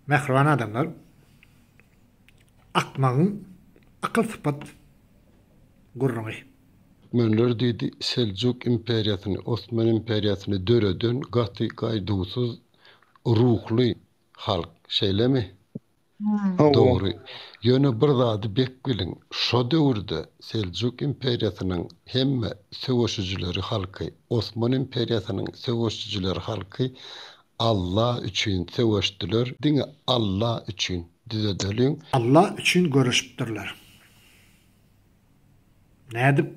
Mähriban adamlar akmagyň akyl sypat gürrüňi. Türkmenler diýdi, Seljuk imperiýasyny, Osman imperiýasyny döreden gaty gaýduwsyz ruhly halk, şeýlemi? Dogry. Ýöne bir zady bek biliň, şo döwürde Seljuk imperiýasynyň hemme söweşijileri halky, Osman imperiýasynyň söweşijileri halky Allah üçin söweşdiler diňe Allah üçin düzedeliň. Allah üçin göreşipdirler. Nädip?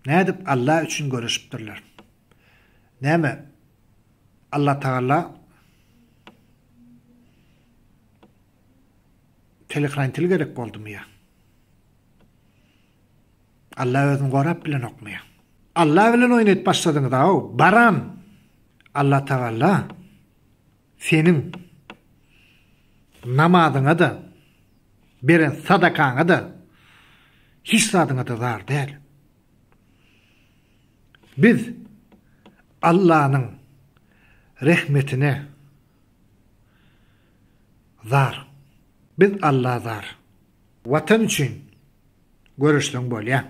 Nädip Allah üçin göreşipdirler? Näme Allah tagalla telekrantili gerek boldumy ýa? Alla özüni gorap bilenokmy? Alla bilen oýnayp başladyňyzaw baran Alla tagalla seniň namazyňada beren sadakaňada hiç zadyňada zar däl. Biz Allanyň rehmetine zar. Biz Alla zar. Watan üçin. göreşseň bolýa.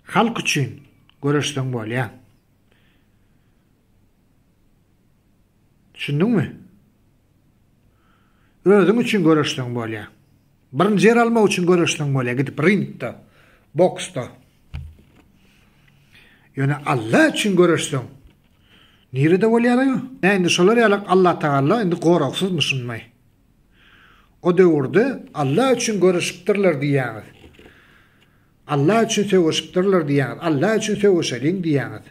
Halk üçin göreşseň bolýa. Düşündiňmi? Özüň üçin göreşseň bolýa. Birinji ýer almak üçin göreşseň bolýa gidip ringde, boksda. Ýöne Allah üçin göreşseň nirede bolýar aýo? Indi şolar ýalak Allah tagalla indi goragsyzmy şunmy? O döwürde Allah üçin göreşipdirler diýýäňiz. Allah üçin söweşipdirler diýýäňiz. Allah üçin söweşeliň diýýäňiz.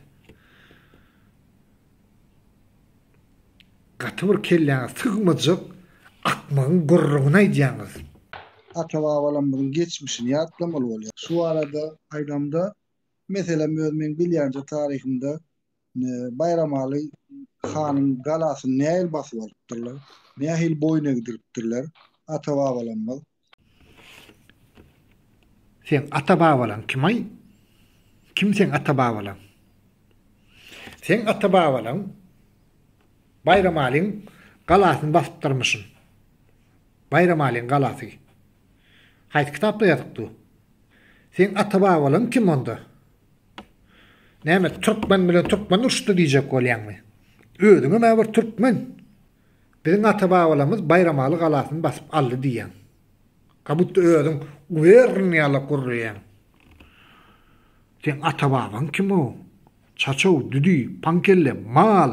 Gaty bir kelläňe sygmajak akmagyň gürrüňini aýdýaňyz. Ata-babalarymyzyň geçmişini ýatlamaly bolýar. Şu barada aýdamda, meselem öz meň bilýänje taryhymda Baýramaly hanyň galasyny nähili basyp alypdyrlar? Nähili boýun egdiripdirler? Ata-babalarymyz. Seň ata-babalaň kim-aý? Kim seň ata-babalaň? Seň ata-babalaň Baýramalyň galasyny basypdyrmyşyn. Baýramalyň galasy. Haýsy kitapda ýazypdy? Seň ata-babalaň kim onda? Näme türkmen bilen türkmen urşdy diýjek bolýaňmy? Özüňem a bir türkmen. Biziň ata-babalarymyz Baýramaly galasyny basyp aldy diýýäň. Ka butda özüň guberniýalap gürleýäň. Seň ata-babaň kimow? Çaçow, düdi, paňkelle, mal.